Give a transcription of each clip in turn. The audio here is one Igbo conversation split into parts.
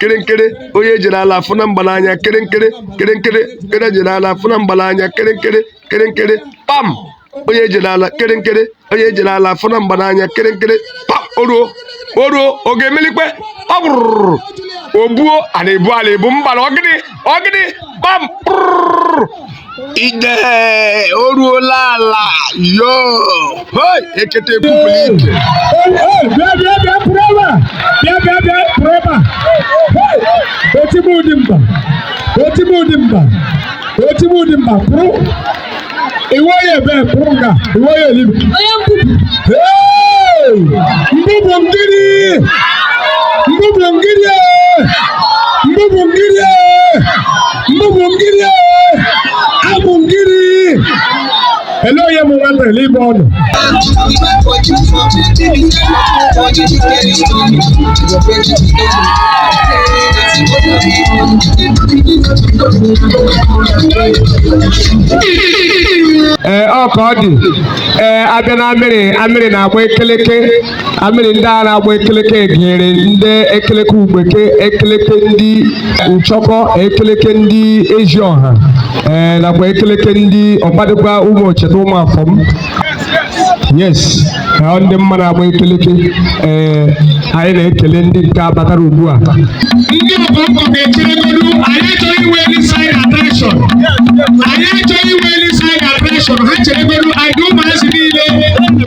kere nkere onye jere ala afụ na mgbala anya kere nkere kere nkere kere jere ala afụ na mgbala anya kere nkere kere nkere pam onye jere ala kere nkere onye jere ala afụ na mgbala anya kere nkere pam oruo oruo ọ ga-emelikwe ọ bụrụrụ ogbuo a na-ebu ala ebu mgbala ọgịdị ọgịdị pam prụrụ ide o ruola ala yo hoi ekete pupụrụ ike bịa bịa bịa pụrụ ebe a bịa bịa bịa pụrụ ebe a otigbu ụdị mba otigbu ụdị mba otigbu ụdị mba pụrụ iwe ya ebe pụrụ nga iwe ya elibi onye mbubu Hey! mbubu ngiri mbubu ngiri eh! mbubu ngiri eh! Mbubu ngiri abụ ngiri ele onye bụ nwata ele ibe ọnụ ee ọ ka ọ dị ee a bịa na Amịrị Amịrị na-agba ekeleke Amịrị ndị a na-agba ekeleke gụnyere ndị ekeleke Ugbeke ekeleke ndị Nchọkọ ekeleke ndị ezi ọha ee nakwa ekeleke ndị ọkpadịkwa Ụmụocheta Ụmụafọm yes ha ndị m ma na-agba ekeleke ee anyị na-ekele ndị nke a batara ugbu a ndị ọbụ ọkụ ga-echeregodu anyị achọghị inwe any side attraction anyị achọghị inwe any side attraction ha cheregodu anyị ụmụazị niile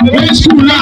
nwee skuul a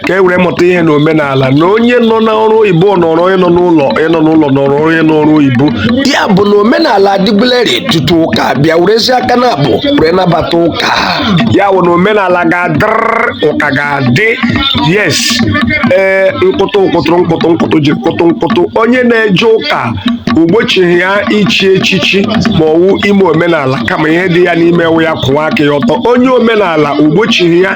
ka e were mụta ihe na omenala na onye nọ n'ọrụ oyibo nọrọ onye nọ n'ụlọ onye nọ n'ụlọ nọrọ onye n'ọrụ oyibo ya bụ na omenala adịbulerị tutu ụka bịa werezie aka naabụ were nabata ụka ya bụ na omenala ga-adịrịrị ụka ga-adị yes ee nkụtụ nkụtụ nkụtụ nkụtụ ji nkụtụ nkụtụ onye na-eje ụka o gbochighị ya ichi echichi ma ọ wụ ime omenala kama ihe dị ya n'ime wụ ya kwụwa aka ya ọtọ onye omenala o gbochighị ya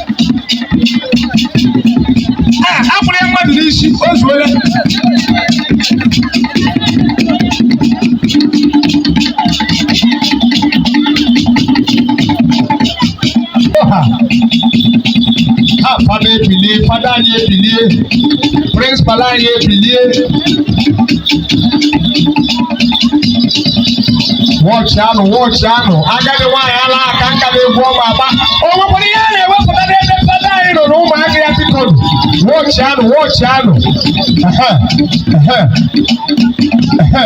a akwụrụ ya mmadụ n'isi o zuola Oha. ha fada ebilie fada anyị ebilie principal anyị ebilie wọchị anụ wọchị anụ agadi nwaanyị ala aka nka n'egwu ọ ma agba o nwekwara ihe a na-ewepụta n'ebe fada anyị nọ na ụmụaka ya biko wọchị anụ wọchị anụ Ehe, ehe, ehe.